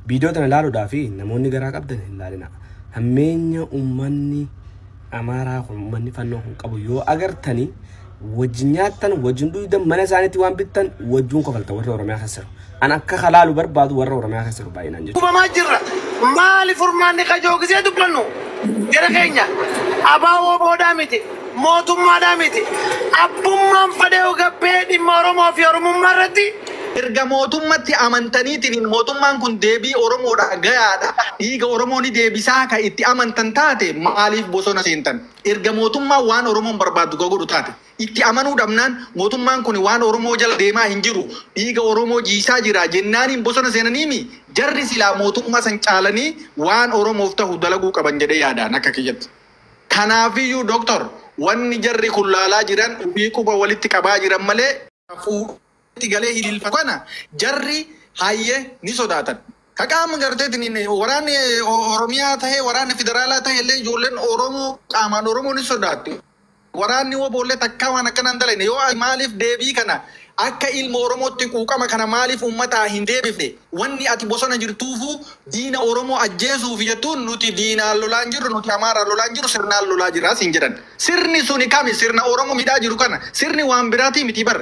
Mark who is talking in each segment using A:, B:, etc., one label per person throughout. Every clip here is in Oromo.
A: Viidiyoo tana ilaaluudhaa fi namoonni garaa qabdan hin laalina. Hammeenya ummanni Amaaraa kun ummanni fannoo kun qabu yoo agartanii wajjin nyaattan wajjin dhuydan mana isaaniitti waan bittan wajjuun kofalta warra Oromiyaa keessa jiru. An akka kalaalu barbaadu warra Oromiyaa keessa jiru baay'inaan jechuudha. Kubamaa jirra.
B: Maali furmaanni kajoogisee dubbannu? Gara keenya abaa ooboodhaa miti. Mootummaadhaa miti. Abbummaan fadhee ogabbee dhimma Oromoo fi Oromummaa irratti Erga
C: mootummatti amantaniitiniin mootummaan kun deebii Oromoodhaa gayaadha, dhiiga Oromoo ni deebisaa ka itti amantan taate maaliif bosona seentan? Erga mootummaan waan Oromoon barbaaddu ka godhu taate, itti amanuu dhabnaan mootummaan kuni waan Oromoo jala deemaa hin jiru, dhiiga Oromoo jiisaa jira jennaaniin bosona seenaniimii? Jarri silaa mootummaa san caalanii waan Oromoof tahu dalaguu qaban jedhee yaada an akka kiyyatti. Kanaafiyyuu Dr. wanni jarri kun laalaa jiran ufii quba walitti qabaa jiran malee, fuudhee itti galee hiliilfatu kana jarri hayyee ni sodaatan. Ka qaama garteetiin waraanni Oromiyaa tahee waraanni federaalaa tahee illee ijoolleen Oromoo qaamaan Oromoo ni sodaatti. Waraanni woboollee takkaa waan akkana hin dalayne yoo ati maaliif deebii kana akka ilma Oromootti quuqama kana maaliif uummataa hin deebifne wanni ati bosona jirtuufuu diina Oromoo ajjeesuuf jettuun nuti diinaan lolaan jirru nuti Amaaraan lolaan jirru sirnaan lolaa jirra siin jedhan. Sirni suni kami sirna oromo midhaa jiru kana sirni waan birati miti bar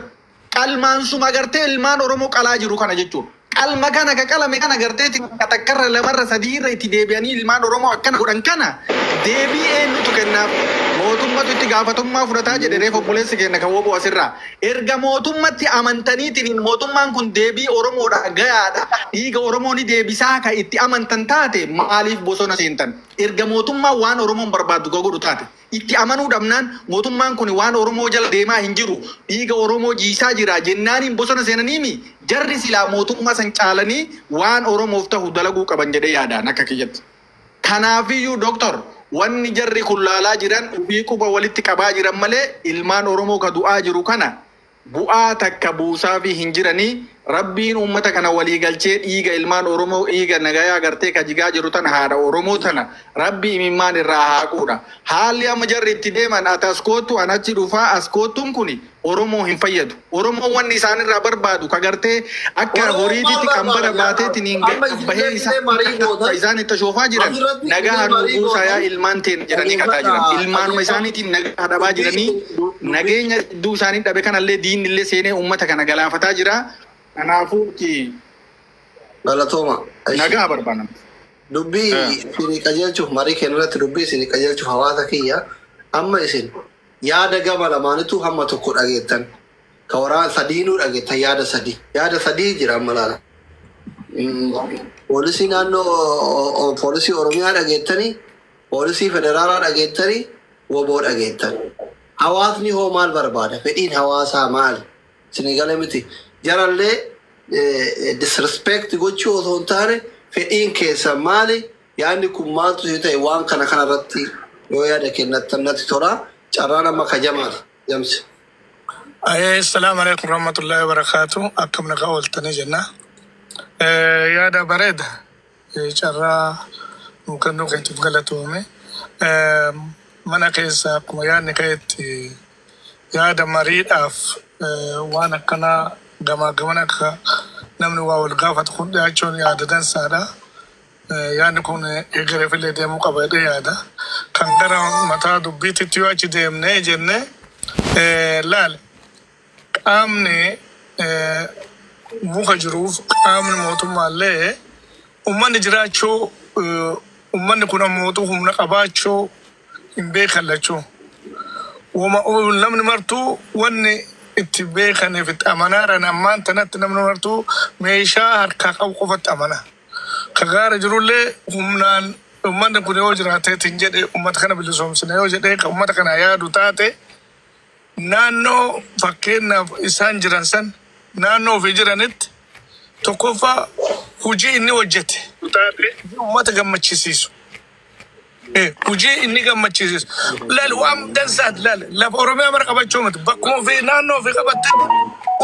C: qalmaan suma agartee ilmaan oromo qalaa jiru kana jechu qalma kana ka qalame kana agartee takka takka irra lama irra sadii irra itti deebi'anii ilmaan oromo akkana godhan kana deebii eenyutu kennaaf mootummatu itti gaafatummaa fudhataa jedhe reef obboleessi keenna ka woboo asirraa erga mootummatti amantaniitiniin mootummaan kun deebii oromoodha gayaadha dhiiga oromoo ni deebisaa ka itti amantan taate maaliif bosona seentan Erga mootummaan waan Oromoon barbaaddu ka godhu taate, itti amanuu dhabnaan, mootummaan kuni waan Oromoo jala deemaa hin jiru, dhiiga Oromoo jiisaa jira jennaaniin bosona seenaniimi? Jarri silaa mootummaa san caalanii waan Oromoof tahu dalaguu qaban jedhee yaada an akka kiyyatti. Kanaafiyyuu Dr. wanni jarri kun laalaa jiran ufii quba walitti qabaa jiran malee ilmaan Oromoo ka du'aa jiru kana Bu'aa takka buusaafii hin jiranii rabbiin uummata kana walii galchee dhiiga ilmaan oromoo dhiiga nagayaa gartee ka jigaa jiru tana haadha oromoo tana rabbi imimmaan irraa haa quudha haalli amma jarri itti deeman ati as koottu an achi dhufaa as koottun kuni oromoo hin fayyadu oromoon wanni isaan irraa barbaadu ka gartee akka Oromoon maal horiititti kan barbaada bara yaa baatee Raab? tiniin Amma isin bahee illee isaa marii gootan. isaan itti ashoofaa jiran Asirratti nagaa illee hanuu marii buusaa yaa gootan. ilmaan teen jedhanii kadhaa jiran Dhaggeeffadhaa. ilmaanuma isaaniitiin nagaa dhabaa jiranii Dubbii- nageenya hedduu isaanii dhabe kanallee diinnillee seenee uummata kana galaafataa jira. Kanaafuu itti
D: Galatooma. Ishi- nagaa
C: barbaanna. Dubbii Eh.
D: isinii qajeelchuuf marii keenya irratti dubbii isinii qajeelchuuf hawaasa kiyya amma isin yaada gama lamaanitu hamma tokko dhageettan ka waraan sadiinuu dhageettan yaada sadii yaada sadii jira amma laala. Mm, Poolisii naannoo o- o- poolisii Oromiyaa dhageettanii Poolisii Federaalaa dhageettani, wbo dhageettan. Hawaasni hoo maal barbaada? Fedhiin hawaasaa maali? Isinii gale miti? Jarallee disrespect gochuu osoo hin taane fedhiin keessan maali? Yaadni kun maaltu isin ta'e? Waan kana kana irratti yoo yaada kennattan natti tola. Carraan amma ka Jamaali. Jamsi. Ayee
E: Assalaamu Aleeykum Warahmatullaahi Wabarakaatuh Akkam nagaa ooltanii jenna Yaada bareeda. Carraa nuu kennuu keetiif galatoomi. Mana keessaa akkuma yaadni ka'etti yaada mariidhaaf waan akkanaa gamaa gamana akka namni waa wal gaafatu kun dhiyaachuun yaada dansaadha. Yaadni kun egereef illee deemuu qaba jedhee yaada. Kan gara mataa dubbiititti yoo achi deemnee jennee laale Qaamni muka jiruuf qaamni mootummaallee ummanni jiraachuu ummanni kun ammootu humna qabaachuu hin beekan lachuu. Woma namni martuu wanni itti beekaniif itti amanaaran ammaan tanatti namni martuu meeshaa harkaa qabu qofatti amana. Ka gaara jirullee humnaan ummanni kun yoo jiraateetiin jedhe ummata kana bilisoomsina yoo jedhee ka ummata kanaa yaadu taate Naannoo fakkeenyaaf isaan jiran san naannoo ofii jiranitti tokkoffaa hujii inni hojjate hujii ummata gammachisiisu e hujii inni gammachisiisu laal waan dansaati laal lafa oromiyaa mara qabachuu miti bakkuma ofii naannoo ofii qabattetti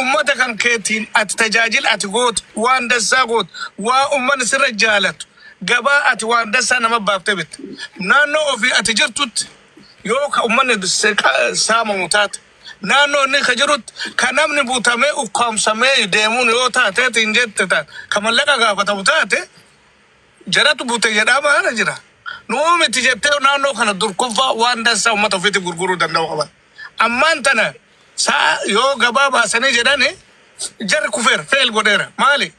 E: ummata kan keetiin ati tajaajila ati goote waan dansaa goote waa ummanni sirra jaalatu gabaa ati waan dansaa nama baaftee bitte naannoo ofii ati jirtutti Yoo ka ummanni dursee qa- saamamu taate, naannoo inni ka jirutti ka namni butamee ukkaamsamee deemuun yoo taateetiin jette ta- ka mallaqa gaafatamu taate, jaratu bute jedhaama kana jira. Nuu miti jettee naannoo kana durkoffaa waan dansaa ummata ofiitiif gurguruu danda'u qaban. Ammaan tana sa'a yoo gabaa baasanii jedhani jarri kufeera, fail godheera. Maali?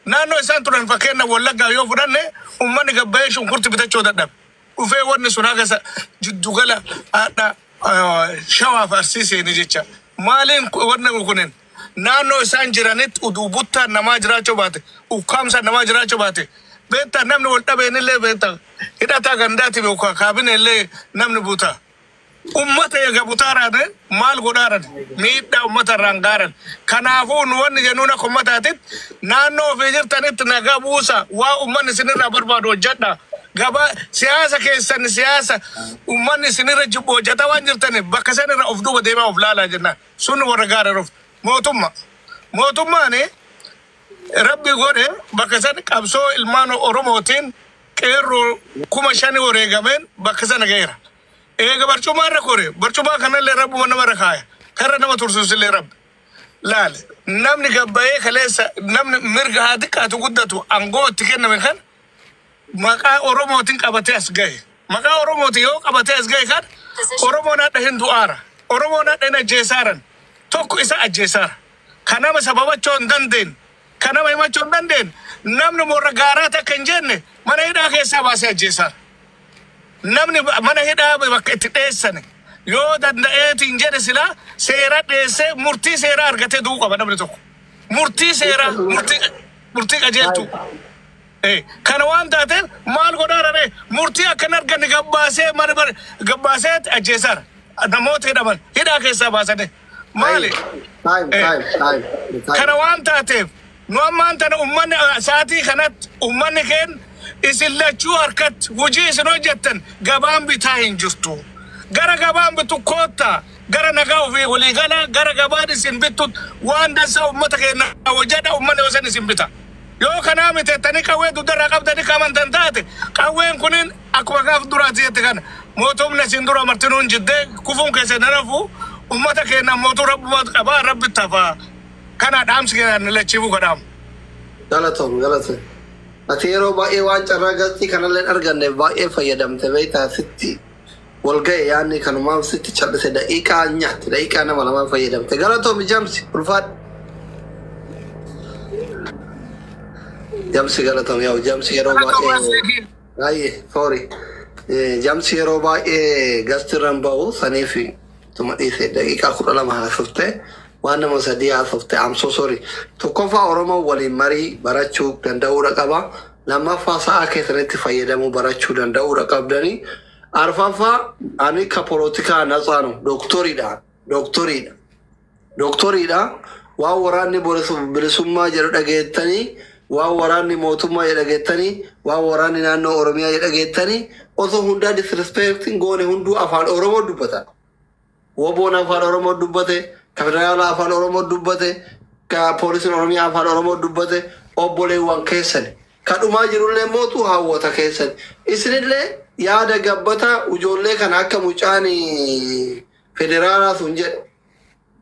E: Naannoo isaan turan fakkeenya Wallaggaa yoo fudhanne ummanni gabbayee shunkurti bitachuu dadhabe. dhufee wanni sun haga sa- jiddu gala hadha shawaaf arsii seene jecha maaliin ku- wanna kunin naannoo isaan jiranitti uduu buttaan namaa jiraachuu baate ukkaamsaan namaa jiraachuu baate beektaa namni wal dhabeenillee beektaa hidhataa gandaati beekaa kaabinellee namni butaa Ummata eega butaa raate maal godhaaran miidhaa ummata irraan gaaran kanaafuu nu wanni jennuun akka ummataatitt naannoo ofii jirtanitt nagaa buusa waan ummanni isin irraa barbaadu hojjadha gabaa siyaasa keessan siyaasa ummanni isin irra jibbu hojjata waan jirtaniif bakka san irra of duuba deemaa of laalaa jennaan sun warra gaara ruf mootumma mootummaani rabbi godhe bakka san qabsoo ilmaan oromootiin Qeerroo kuma shani wareegameen bakka sana gaheera. Eega barcumaa irra kore, barcumaa kanallee Rabbuma nama irra kaaya. Karra nama tursuusillee Rabbi. Laal, namni gad bahee kaleessa namni mirga haa xiqqaatu guddatu angoo itti kenname kan maqaa Oromootiin qabatee as gahe. Maqaa Oromootiin yoo qabatee as gahe kan Oromoon hadha hin du'aara. Oromoon hadha hin ajjeesaaran. Tokko isa ajjeesaara. Kan nama sababachoo hin dandeenye. Ka nama himachuu hin dandeenne, namni worra gaaraa takka hin jenne mana hidhaa keessaa baasee ajjeesaara. Namni mana hidhaa bakka itti dheessane yoo danda'eetiin jedhe silaa seera dheessee murtii seeraa argatee du'uu qaba namni tokko. Murtii seeraa, murtii, murtii qajeeltuu. Ee, kana waan taateef maal godhaa rabee murtii akka hin arganne gabbaasee mana bar gabbaasee ajjeesaara. Namoota hidhaman hidhaa keessaa baasanii maali? Time, time, Ee, time, time, time. kana waan taateef nu ammaan tana ummanni ah, saatii kanatti ummanni keen isin lachuu harkatti hojii isin hojjettan gabaan bitaa hin jirtu. Gara gabaan bitu koottaa gara nagaa ofii walii galaa gara gabaan isin bittu waan dansaa ummata keenya hojjedha ummanni hosan isin bita. Yoo kanaa miti jettanii qawwee dugda irraa qabdanii ka amantan taate, qawween kuniin akkuma gaaf duraa ati jette kana, mootumni asiin dura martinuu hin jidde, kufuun keessan hin hafu, ummata keenna mootuu Rabbumatu qaba, Rabbitti hafaa. Kanaa dhaamsi kiyya ani lachiifuu ka dhaamu. Galatoom
D: galatoom. Ati yeroo baay'ee waan carraa gazzii kanallee hin arganneef baay'ee fayyadamte beektaa sitti wal gahe yaanni kanumaan sitti callise daqiiqaa hin nyaatti daqiiqaa nama lamaa fayyadamte galatoomi jamsi ulfaadhu jamsi galatoomi yaa'u jamsi yeroo baay'ee baay'ee foori jamsi yeroo baay'ee gastirran ba'u saniif tuma dhiise daqiiqaa kudha lama haasofte waan nama sadii haasofte amso sori tokkoffaa oromoo waliin marii barachuu danda'uudha qaba Lammaffaa sa'a keessanitti fayyadamuu barachuu danda'uudha qabdanii Arfaffaa ani ka polotikaa natsaa no doktoriidha doktoriidha doktoriidha waan waraanni borisu- bilisummaa jedhu dhageettanii waan waraanni mootummaa jedhu dhageettanii waan waraanni naannoo Oromiyaa jedhu dhageettanii osoo hundaa disrespecting goone hunduu afaan Oromoo dubbata WBOn Afaan Oromoo dubbate, ka Federaalaa Afaan Oromoo dubbate, ka Poolisiin Oromiyaa Afaan Oromoo dubbate, obboleewwan keessani. Ka dhumaa jirullee mootu hawwoota keessani. Isinillee yaada gabbataa ujoollee kana akka mucaan Federaalaa sun jedhe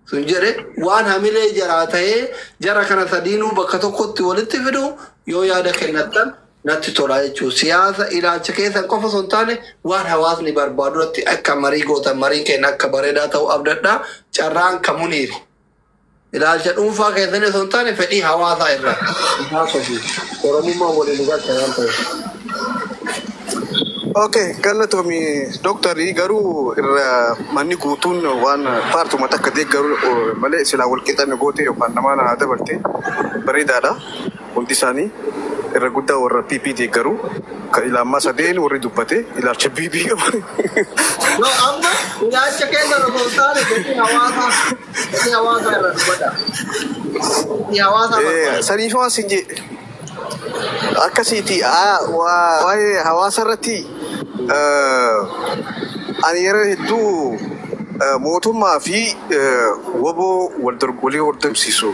D: sun jedhe waan hamilee jaraa ta'ee jara kana sadiinuu bakka tokkotti walitti fidu yoo yaada kennattan natti tolaa jechuun siyaasa ilaalcha keessan qofa osoo hin taane waan hawaasni barbaadu irratti akka marii gootan mariin keenya akka bareedaa ta'uu abdadha. Carraan kan muniiri. Ilaalcha dhuunfaa keessanii osoo hin taane fedhii hawaasaa irraa isaa sofi Oromummaa waliin nu galcha waan ta'eef.
F: Ok, galatomi doktarii garuu irra manni guutuun waan paartuma takka deeggaru malee silaa walqixanne gootee yookaan namaa naa dabarte bareedaadha. hundi isaanii irra guddaa warra PP deeggaru ka ilaammaa sadeen warri dubbate ilaalcha BB qaban. No,
D: amma ilaalcha keenya irra osoo hin taane gatii hawaasaa gatii hawaasaa irra dubbadha. Gatii hawaasaa Eh, barbaada.
F: Saniif waan sin jee akkasiiti aa, waa- waa'ee hawaasa irratti eh, ani yeroo hedduu eh, mootummaa fi eh, woboo wal dorgolii hordofsiisu.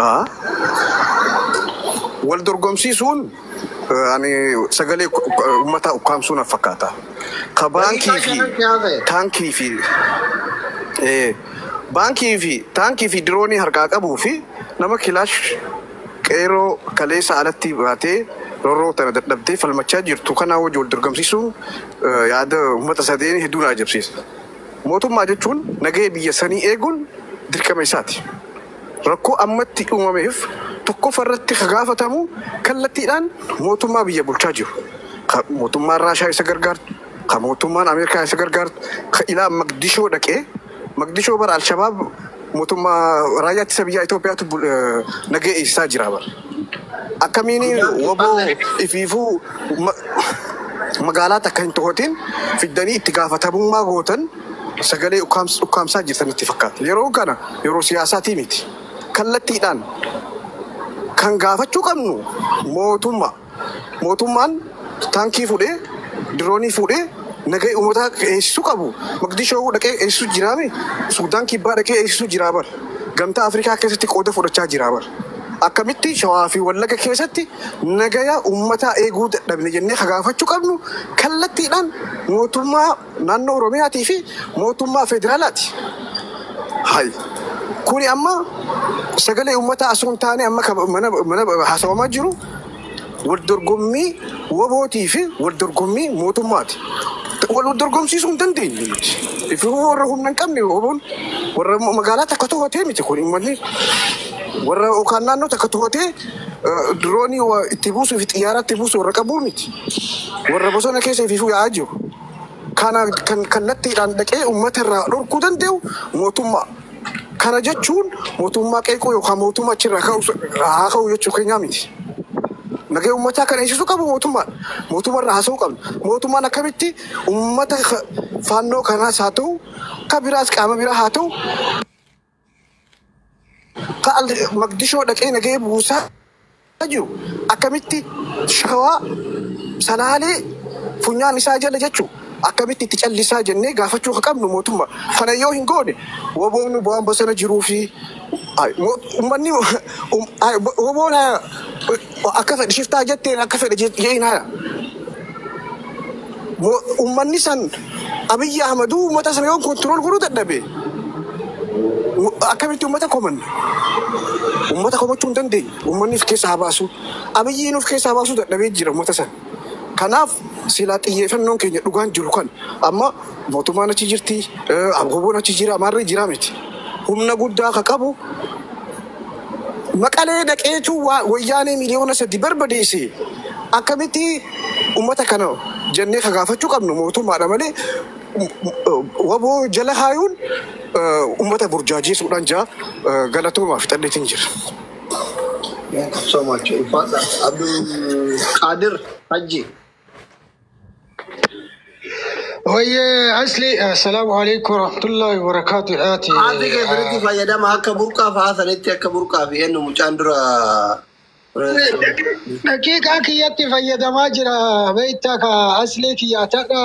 D: Ahaa.
F: Wal dorgomsiisuun eh, ani sagalee ku- ku- uummataa ukkaamsuu na fakkaata. Ka baankii Daqiiqaa fi shanan si hafe. taankii fi eh, baankii fi taankii fi diroonii harkaa qabuu fi nama kilaash qeeroo kaleessa alatti baatee rorroo tana dadhabdee falmachaa jirtu kanaa wajji wal dorgomsiisuun eh, yaada uummata sadeenii hedduu na ajabsiisa. Mootummaa jechuun nagaya biyya sanii eeguun dirqama isaati. Rakkoo ammatti uumameef tokkofa irratti ka gaafatamu kallattiidhaan mootummaa biyya bulchaa jiru. Ka mootummaan Raashaa isa gargaartu, ka mootummaan Ameerikaa isa gargaartu, ka ilaa Maqdishoo dhaqee, Maqdishoo bar Alshabaab mootummaa Raayyaa Ittisa Biyyaa Itoophiyaatu nagaya eegsisaa jira bar. Akkamiin wbo ifiifuu magaalaa takka hin tohatin fiddanii itti gaafatamummaa gootan sagalee ukkaamsaa jirtan natti fakkaata. Yeroon kana yeroo siyaasaatii miti. Kallattiidhaan kan gaafachuu qabnu mootummaa. Mootummaan Taankii fuudhee, diroonii fuudhee nagaya uummataa akka eegsisu qabu. Maqdishoo dhaqee eegsisu jiraa mi? Suudaan Kibbaa dhaqee eegsisu jiraa bar. Gamtaa Afrikaa keessatti qooda fudhachaa jiraa bar. Akkamitti Shawaa fi Wallaga keessatti nagaya uummataa eeguu dadhabne jennee ka gaafachu qabnu kallattiidhaan mootummaa Naannoo Oromiyaatii fi mootummaa federaalaati. Hay. Kuni amma sagalee uummataa asoo hin taane amma ka mana, mana haasawamaa jiru wal dorgommii wabootii fi wal dorgommii mootummaati. Wal wal dorgomsiisuu hin dandeenyu nuti. Ifi warra humna hin qabne waboon warra magaalaa takka to'atee miti kun uummanni warra yookaan naannoo takka to'atee Diroonii wa itti buusuu fi xiyyaara itti buusu warra qabuu miti. Warra bosona keessa ifiifuu yaa'aa jiru. Kana kan kallattiidhaan dhaqee uummata irraa dhorkuu danda'u mootummaa. Kana jechuun mootummaa qeequu yookaan mootummaa achirraa ka'u haa ka'u jechuu keenyaa miti. Nagaya uummataa kan eegsisuu qabu mootummaadha. Mootummaa irraa haasa'uu qabna. Mootummaan akkamitti uummata ka- faannoo kanaas haa ta'u, ka biraas qaama biraa haa ta'u Ta'al Maqdishoo dhaqee nagahee buusaa jiru akkamitti shawaa salaalee funyaan isaa jala jechu akkamitti itti callisaa jennee gaafachuu akka qabnu mootummaa kana yoo hin goone woboon waan bosona jiruu fi ummanni woboon Akka fedhe shiftaa jetteen akka fedhe je'iin haya. Ummanni san Abiyyi Ahmaduu ummata sana yoo kontirool godhuu dadhabe akkamitti ummata komanna? Ummata komachuu hin dandeenye. Ummanni of keessaa haa baasuu. Abiyyiin of keessaa baasuu dadhabee jira ummata sana. Kanaaf silaa xiyyeeffannoon keenya dhugaan jiru kan amma mootummaan achi jirti, abgoboon achi jira, maarree jira miti. Humna guddaa ka qabu Maqalee dhaqeetuu waa wayyaanee miliyoona sadii barbadeese akkamitti ummata kana jennee ka gaafachuu qabnu mootummaadha malee wbo jala kaayuun ummata burjaajeesuudhaan jaa galatoomaa fixadheetiin jira.
D: Thank you so much. Ulfaadha. Abdul Qadir Hajji.
G: Wayyee asli assalaamu alaikum warahmatullahi wabarakaatu haati Haati kee biritti
D: fayyadama akka burqaa fa'aa sanitti akka burqaa fi eenyu mucaan dura
G: daqiiqaa kiyyatti fayyadamaa jira beekta ka asli kiyya tadha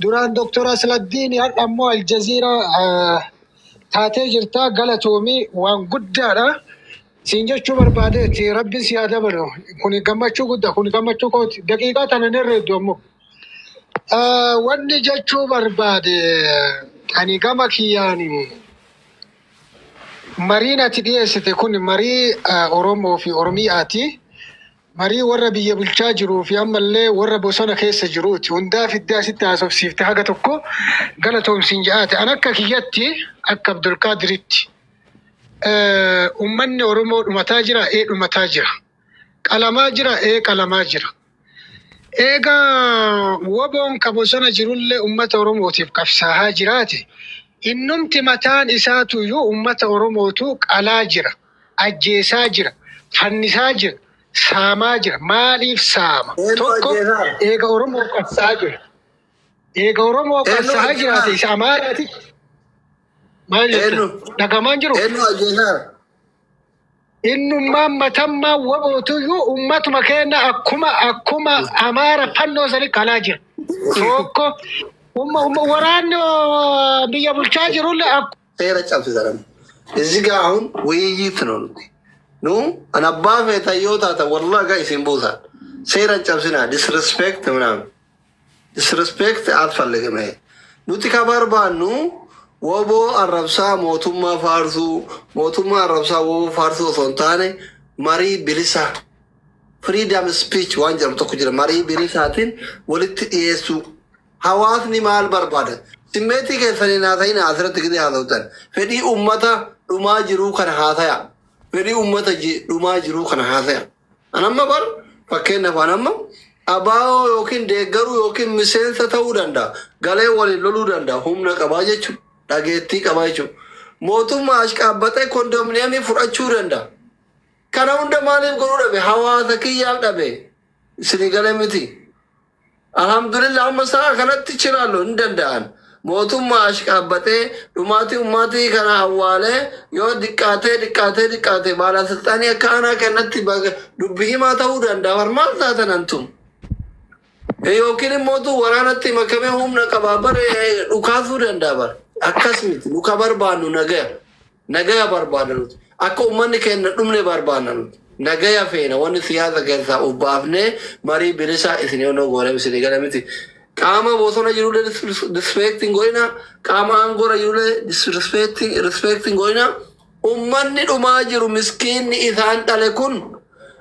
G: duraan doktor asladdiin hadha immoo aljaziira taatee jirta galatoomii waan guddaadha Siin jechuu barbaadeetti rabbin sii haa dabalu kuni gammachuu gudda kuni gammachuu kooti daqiiqaa tana hin herreeddu ammoo Ah, wanni jechuu barbaade ani gama kiyyaani mariin ati dhiyeessite kun marii ah, Oromoo fi Oromiyaati. Marii warra biyya bulchaa jiruu fi ammallee warra bosona keessa jiruuti. Hundaa fiddee asitti haasofsiifte haga tokko galatoomsiin ja'aate. An akka kiyyatti akka Abdulkaadiritti. Eh, Uummanni Oromoo dhumataa jira, ee dhumataa jira. Qalamaa jira, ee qalamaa jira. Eega woboon ka bosona jirullee uummata Oromootiif qabsaahaa jiraate, innumti mataan isaatu iyyuu uummata Oromootu qalaa jira, ajjeesaa jira, fannisaa jira, saamaa jira. Maaliif saama? Eentu Tokko ajjeesaa? eega Oromoo qabsaa jira. Eega Oromoo Eentu qabsaa ajjeesaa? jiraate isa Amaaraati. Maal jette? Eenyu? Dhagamaan jiru. Eenyu ajjeesaa? Innummaan matammaa wabootuyyuu ummatuma keenya akkuma akkuma amaara fannoo sanii qalaa jira. Tokko umma umma waraanni oo, biyya bulchaa jirulle akkuma seera cabsisan.
D: Izi gaa hun wayyiitti nu nuti. Nu an abbaa feetan yoo taatan wallahi gaa isin buusan. Seera cabsinaa disrespect minaan. Disrespect alfalligim he nuti ka barbaannu woboo arrabsaa mootummaa faarsuu mootummaa arrabsaa woboo faarsuu osoo hin taane marii bilisa freedom speech waan jedhamu tokko jira marii bilisaatiin walitti dhiyeessuu hawaasni maal barbaada simmeetii keessaniin haasa'ina asirratti gidee haasa'utan fedhii ummata dhumaa jiruu kana haasaya fedhii ummata ji- dhumaa jiruu kana haasaya An amma bar fakkeenyaaf an amma abaa'oo yookiin deeggaruu yookiin miseensa ta'uu danda'a. Galee waliin loluu danda'a. Humna qabaa jechuudha. Dhageettii qabaa jechuudha. Mootummaa ashqaabbaxee kondominiyeemii fudhachuu danda'a. Kana hunda maaliif godhuu dhabe? Hawaasa kiyyaaf dhabe. Isinii galee miti. Alhamdulillah amma sa'a kanatti chilaallo hin danda'an. Mootummaa ashqaabbaxee dhumaatii ummaatii kana awwaalee yoo diqqaatee diqqaatee diqqaatee baalasilxaanii akka aanaa kanatti baga- dubbi himaa ta'uu danda'a. Bar maal taatan antum? Yookiin immoo tu waraanatti makamee humna qabaa bar eh, dhukaasuu danda'a bar. Akkas miti nu ka barbaannu nagaya. Nagaya barbaadna nuti. Akka ummanni keenna dhumne barbaanna nuti. Nagaya feena wanni siyaasa keessaa uf baafnee marii bilisaa isin yoonoo goonem isinii gala miti. Qaama bosona jirullee disrespect hin godhina, qaama aangora jirullee disrespect hin godhina. Ummanni dhumaa jiru miskiinni isaan dhale kun,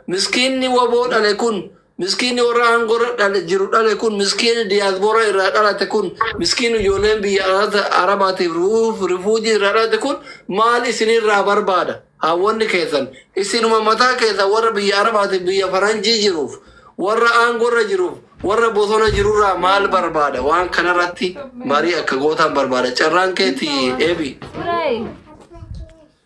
D: miskiinni wbo dhale kun, Miskiinni warra aangoo irra dhale jiru dhale kun, miskiinni diaspora irraa dhalate kun, miskiinni ijoolleen biyya alata Arabaatiif ruuf rifuujii irraa dhalate kun maal isin irraa barbaada? Haawwanni keessan isinuma mataa keessan warra biyya Arabaatiif biyya faranjii jiruuf, warra aangoo irra jiruuf, warra bosona jiru irraa maal barbaada? Waan kana irratti marii akka gootaan barbaada. Carraan keeti Eebi. Turay.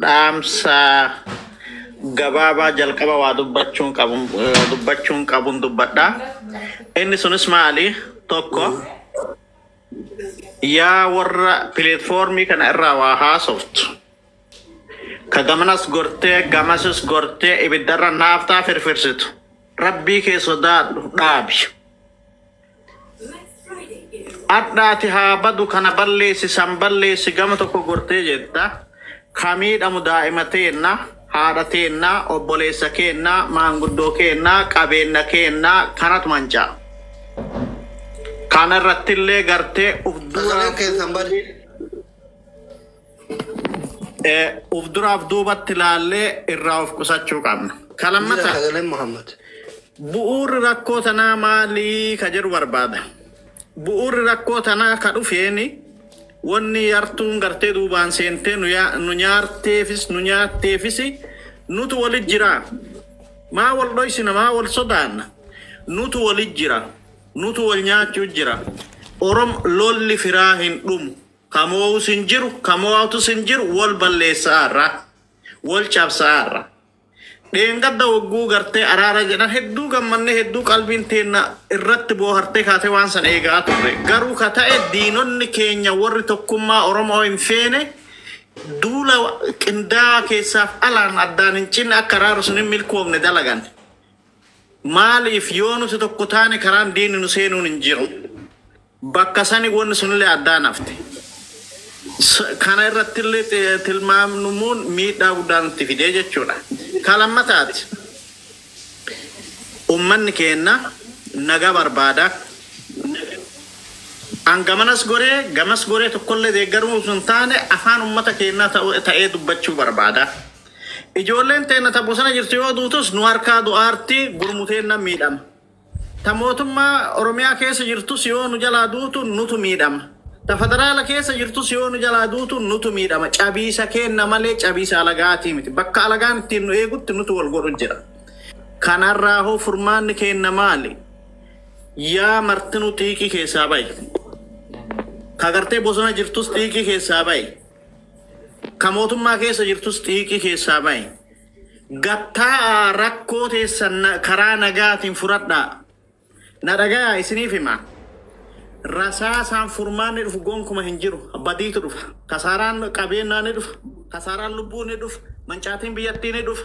H: dhaamsa gabaabaa jalqaba waa dubbachuun qabun eh, dubbachuun qabun dubbadha. Inni sunis maali? Tokko yaa warra pileetfoormii kana irraa waa haasoftu. Ka gamanas gortee gamasis gortee ibiddarra naaftaa firfirsitu. Rabbii kee sodaadhu dhaabi. Adhaati haa badu kana balleessi san balleessi gama tokko gortee jetta ka miidhamu daa'ima teenna haadha teenna obboleessa keenna maanguddoo keenna qabeenna keenna kanatu manca'a. Kana irrattillee gartee uf duraa Sagaleen keessan bade. Eh, Uf duraaf duubatti ilaallee irraa of qusachuu qabna. Ka Jira lammataa sagaleen Muhammad. bu'uurri rakkoo tanaa maalii ka jedhu barbaada. Bu'uurri rakkoo tanaa ka dhufeeni wanni yartuun gartee duubaan seentee nu yaa- nu nyaarteefis nu nyaatteefis nutu wali jira. Maa wal dhoysina maa wal sodaanna. Nutu wali jira. Nutu wal nyaachuu jira. Orom lolli firaa hin dhumu. Ka moo'us hin jiru, ka moo'atus hin jiru, wol balleessa'aarra, wol cabsa'aarra. Dheengadda wogguu gartee araara jedhan hedduu gammannee hedduu qalbiin teenna irratti boohartee kaatee waan san eega'aa turre. Garuu ka ta'e diinonni keenya worri tokkummaa Oromo'oo hin feene duula qindaawaa keessaaf alaan addaan hin cinne akka araarri sun hin milkoofne dalagan. Maaliif yoo nuti tokko taane karaan diinni nu seenuun hin jiru. Bakka sani wonni sunillee addaan hafte. S Kana irrattillee ti- tilmaamnumuun miidhaa guddaa nutti fidee jechuu dha. Ka lammataati, ummanni keenna nagaa barbaada. An gamanas goree, gamas goree tokkollee deeggaruu osoo hin taane afaan ummata keennaa ta'u- ta'ee dubbachuu barbaada. Ijoolleen teenna ta bosona jirtu yoo duutus nu harkaa du'aarti, gurmu teennan miidhama. Ta mootummaa Oromiyaa keessa jirtus yoo nu jalaa duutu nutu miidhama. Ta federaala keessa jirtus yoo nu jalaa duutu nutu miidhama. Cabiisa keenna malee cabiisa alagaatii miti. Bakka alagaan ittiin nu eegutti nutu wal godhu jira. Kanarraa hoo furmaanni keenna maali? Yaa martinuu xiiqii keessaa ba'i. Ka gartee bosona jirtus xiiqii keessaa ba'i. Ka mootummaa keessa jirtus xiiqii keessaa ba'i. Gad taa'aa rakkoo teessan na- karaa nagaatiin furadhaa. Na dhagayaa isiniif hima. Rasaasaan furmaanni dhufu gonkuma hin jiru. Badiitu dhufa. Kasaaraan qabeenyaa ni dhufa. Kasaaraan lubbuu ni dhufa. Mancaatiin biyyattii ni dhufa.